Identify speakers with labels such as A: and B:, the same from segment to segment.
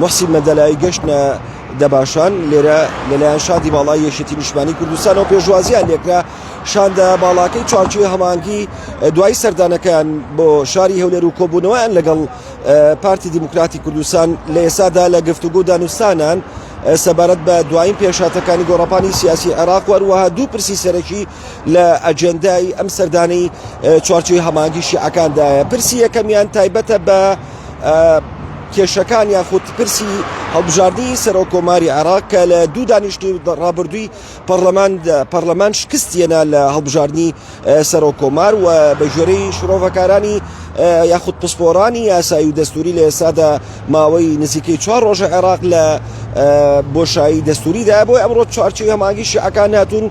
A: موحسین مەندەلای گەشتنە دەباشان لێرە لەلایەن شادی باڵای یەشێتی نیشمانی کوردستانەوە پێشوازیان لێکرا شاندە باڵاکەی چوارچوی هەمانگی دوای سەردانەکەیان بۆ شاری هەولێر و کۆبوونەوەیان لەگەڵ پارتی دیموکراتی کوردستان لە ئێسادا لە گفتوگو دانوستانان سەبارەت بە دوایین پێشاتەکانی گۆڕپانی سیاسی عێراق وەروەها دوو پرسی سەرەکی لە ئەجێندای ئەم سەردانەی چوارچێوی هەمانگی شیعەکاندایە پرسی یەکەمیان تایبەتە بە کێشەکان یاخود پرسی هەڵبژاردنی سەرۆک کۆماری عێراق کە لە دوو دانیشتنی ڕابردووی پەرلەمان پەرلەمان شکستیەنا لە هەڵبژاردننی سەرۆک کۆمار و بە ژێری شرۆڤەکارانی یاخود پسپۆرانی یاسایی و دەستوری لە ئێسادا ماوەی نزیکەی چوار ڕۆژە عێراق لە بۆشایی دەستوریدا بۆی ئەمڕۆ چوارچی هەماگی شیعەکان هاتوون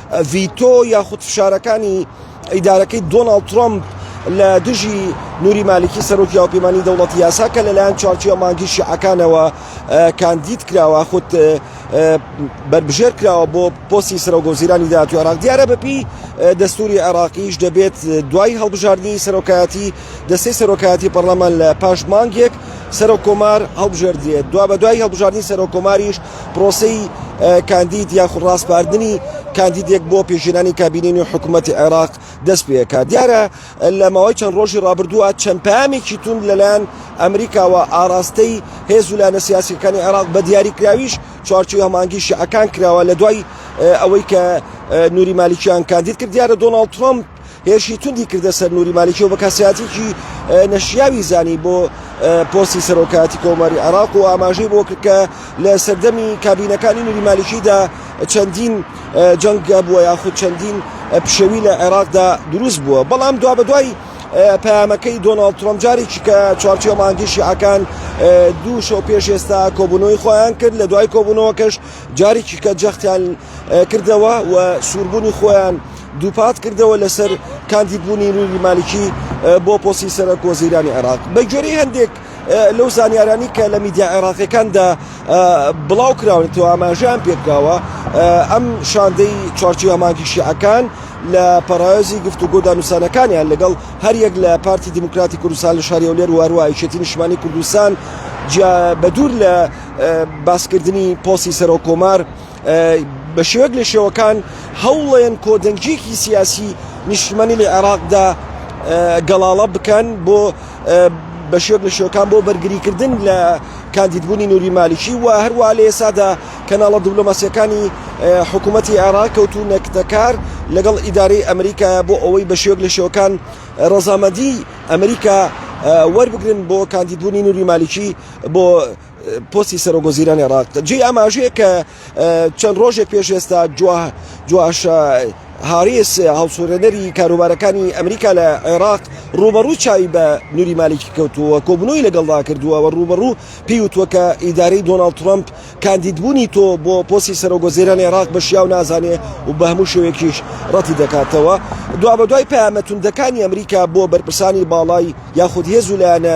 A: ڤیتۆ یاخود فشارەکانی ئیدارەکەی دۆناڵد ترەمپ لە دژی نوری مالکی سەرۆکی هاوپەیمانی دەوڵەتی یاسا کە لەلایەن چوارچوە مانگی شیعەکانەوە کاندید کراوە خود بەربژێر کراوە بۆ پۆستی سەرۆک وەزیرانی داهاتوی عێراق دیارە بەپی دەستوری عێراقیش دەبێت دوای هەڵبژاردنی سەرۆکایەتی دەستەی سەرۆکایەتی پەرلەمان لە پاش مانگێک سەرۆک کۆمار هەڵبژێردرێت دوا بە دوای هەڵبژاردنی سەرۆک کۆماریش پرۆسەی کاندید یاخود ڕاسپاردنی کاندیدێک بۆ پێشێنانی کابینەی نوێ حکوومەتی عێراق دەست پێکات دیارە لە ماوەی چەند ڕۆژی ڕابردووە چەند پامێکی تون لەلایەن ئەمریکاوە ئاراستەی هێز و لایەنە سیاسیەکانی عێراق بە دیاریکراویش چوارچوی هەمانگی شعەکان کراوە لە دوای ئەوەی کە نوری مالیکیان کاندید کرد دیارە دۆناڵد ترامپ هێرشی توندی کردە سەر نوری مالیکی و بە کەسایەتیەکی نەشیاوی زانی بۆ پۆستی سەرۆکایەتی کۆماری عێراق و ئاماژەی بۆ کرد کە لە سەردەمی کابینەکانی نوری مالیکیدا چەندین جەنگە بووە یاخود چەندین پشێوی لە عێراقدا دروست بووە بەڵام دوا بە دوای پەیامەکەی دۆناڵد ترۆم جارێکی کە چوارچێ مانگی شیعەکان دوو شەو پێش ئێستا کۆبوونەوەی خۆیان کرد لە دوای کۆبوونەوەکەش جارێکی کە جەختیان کردەوە و سووربوونی خۆیان دووپات کردەوە لەسەر کاندید بوونی نوری مالکی بۆ پۆسی سەرەک وەزیرانی عێراق بە گوێرەی هەندێک لەو زانیارانی کە لە میدیا عێراقیەکاندا بڵاو کراون تو ئاماژیان پێکراوە ئەم شاندەی چوارچوە مانگی شیعەکان لە پەڕایۆزی گفتوگۆ دانوسانەکانیان لەگەڵ هەریەک لە پارتی دیموکراتی کوردستان لە شاری ئەولێر واروایشێتی نیشمانی کوردستان بەدور لە باسکردنی پۆسی سەرۆ کۆمار بە شێوەک لە شێوەکان هەوڵێن کۆدەنگیەکی سیاسی نیشتمانی لە عێراقدا گەڵاڵە بکەن بۆ بە شێوەک لە شێوەکان بۆ بەرگریکردن لە کاندیدبوونی نوری مالیکی و هەروە لە ئێسادا کەناڵە دیبلۆماسیەکانی حکوومەتتی عێراق کەوتو نەکتەکار لەگەڵ ئیدارەی ئەمریکا بۆ ئەوەی بە شێوەک لە شێوەکان ڕەزامەندی ئەمریکا وەربگرن بۆ کاندیدبوونی نوری مالیکی بۆ پۆستی سەرۆک وەزیرانی عێراق جێی ئاماژەیە کە چەند ڕۆژێک پێش ئێستا جواش هاریس هەڵسوورێنەری کاروبارەکانی ئەمریکا لە عێراق ڕوبەڕوو چاوی بە نوری مالکی کەوتووە کۆبنەوەی لەگەڵدا کردووە و ڕوبەڕوو پێیوتوە کە ئیدارەی دۆناڵد ترمپ کاندیدبوونی تۆ بۆ پۆسی سەرۆگۆزیرانی عێراق بە شیاو نازانێ و بە هەموو شوێکیش ڕەتی دەکاتەوە دوابەدوای پامەتوندەکانی ئەمریکا بۆ بەرپرسانی باڵای یاخود هێز و لایەنە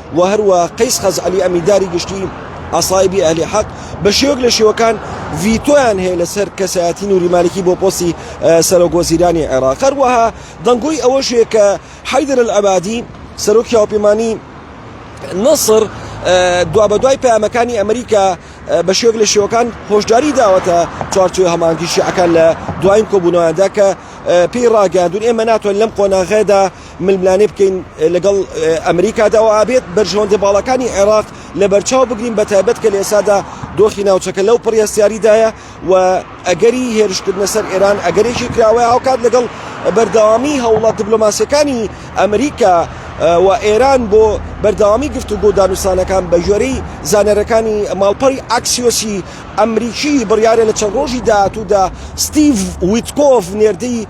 A: و هەروە قەیس خەزعەلی ئەمینداری گشتیی عەسائیبی ئەهلی حەق بە شێوەک لە شێوەکان ڤیتۆیان هەیە لەسەر کەسایەتی نوری مالکی بۆ پۆستی سەرۆک وەزیرانی عێراق، هەروەها دەنگۆی ئەوەش هەیە کە حەیدەر ئەلعەبادی سەرۆکی هاوپەیمانیی نەسڕ دوابەدوای پەیامەکانی ئەمریکا بە شێوەک لە شێوەکان هۆشداریی داوەتە چوارچێوەی هەماهەنگیی شیعەکان لە دوایین کۆبوونەوەیاندا کە پێی ڕاگەیاندوون ئێمە ناتوانین لەم قۆناغەدا ململانێ بکەین لەگەڵ ئەمریکادا و ئابێت بەرژەوەندە باڵاکانی عێراق لە بەرچاو بگرین بە تایبەت کە لە ئێسادا دۆخی ناوچەکە لەو پڕیاستیاریدایە و ئەگەری هێرشکردنە سەر ئێران ئەگەرێکی کراوەیە هاوکات لەگەڵ بەردەوامی هەوڵە دبلۆماسیەکانی ئەمریکا و ئێران بۆ بەردەوامی گرفت و گۆدانوسانەکان بە ژێرەی زانەرەکانی ماڵپەڕی ئاکسیۆسی ئەمریکی بڕیارە لە چەند ڕۆژی داهاتوودا ستیڤ ویتکۆڤ نێردەی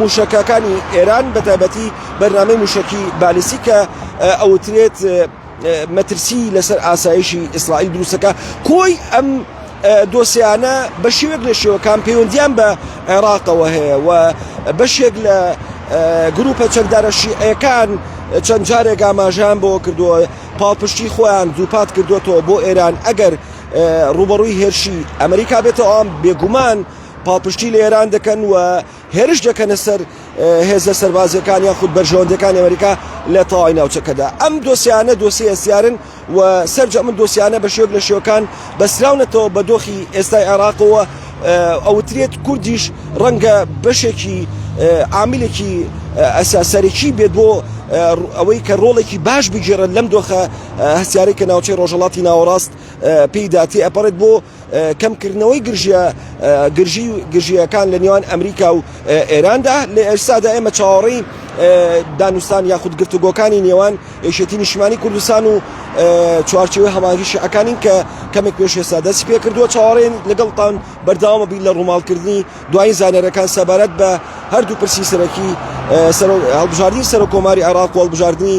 A: مووشەکەکانی ئێران بە تایبەتی بەرنامەی مووشەکی بالیستی کە ئەوترێت مەترسی لەسەر ئاسایشی ئیسرائیل دروستەکە کۆی ئەم دۆسیانە بە شێوێک لە شێوەکان پەیوەندیان بە عێراقەوە هەیە و بەشێک لە گروپە چەکدارە شیعەکان چەند جارێک ئاماژیان بۆ کردووە پاڵپشتی خۆیان دووپات کردوێتەوە بۆ ئێران ئەگەر ڕوبەڕووی هێرشی ئەمریکا بێتەوە ئەم بێگومان پاڵپشتی لە ئێران دەکەن و هێرش دەکەنە سەر هێزە سەربازیەکان یان خود بەرژەوەندەکانی ئەمریکا لە تەواوی ناوچەکەدا ئەم دۆسیانە دۆسی ئەسیارن و سەرجە من دۆسیانە بە شێوک لە شێوەکان بەسراونەتەوە بە دۆخی ئێستای عێراقەوە ئەوترێت کوردیش ڕەنگە بەشێکی عاملێکی ئەساسەرێکی بێت بۆ ئەوەی کە ڕۆڵێکی باش بگیرن لەم دۆخە هەسیارێک کە ناوچەی ڕۆژەڵاتی ناوەڕاست پێی داتی ئەپەڕێت بۆ کەمکردنەوەی گرژییە گرژی و گرژییەکان لە نێوان ئەمریکا و ئێراندا لە ئێستادا ئێمە چاوەڕێی دانوستان یاخود گرتوگۆکانی نێوان یەکێتی نیشتمانی کوردستان و چوارچێوەی هەماهنگی شیعەکانین کە کەمێک پێش ئێستا دەستی پێ کردووە چاوەڕێن لەگەڵتان بەردەوامە بین لە ڕووماڵکردنی دوایین زانیاریەکان سەبارەت بە هەردوو پرسی سەرەکی هەڵبژاردنی سەرۆک کۆماری عێراق و هەڵبژاردنی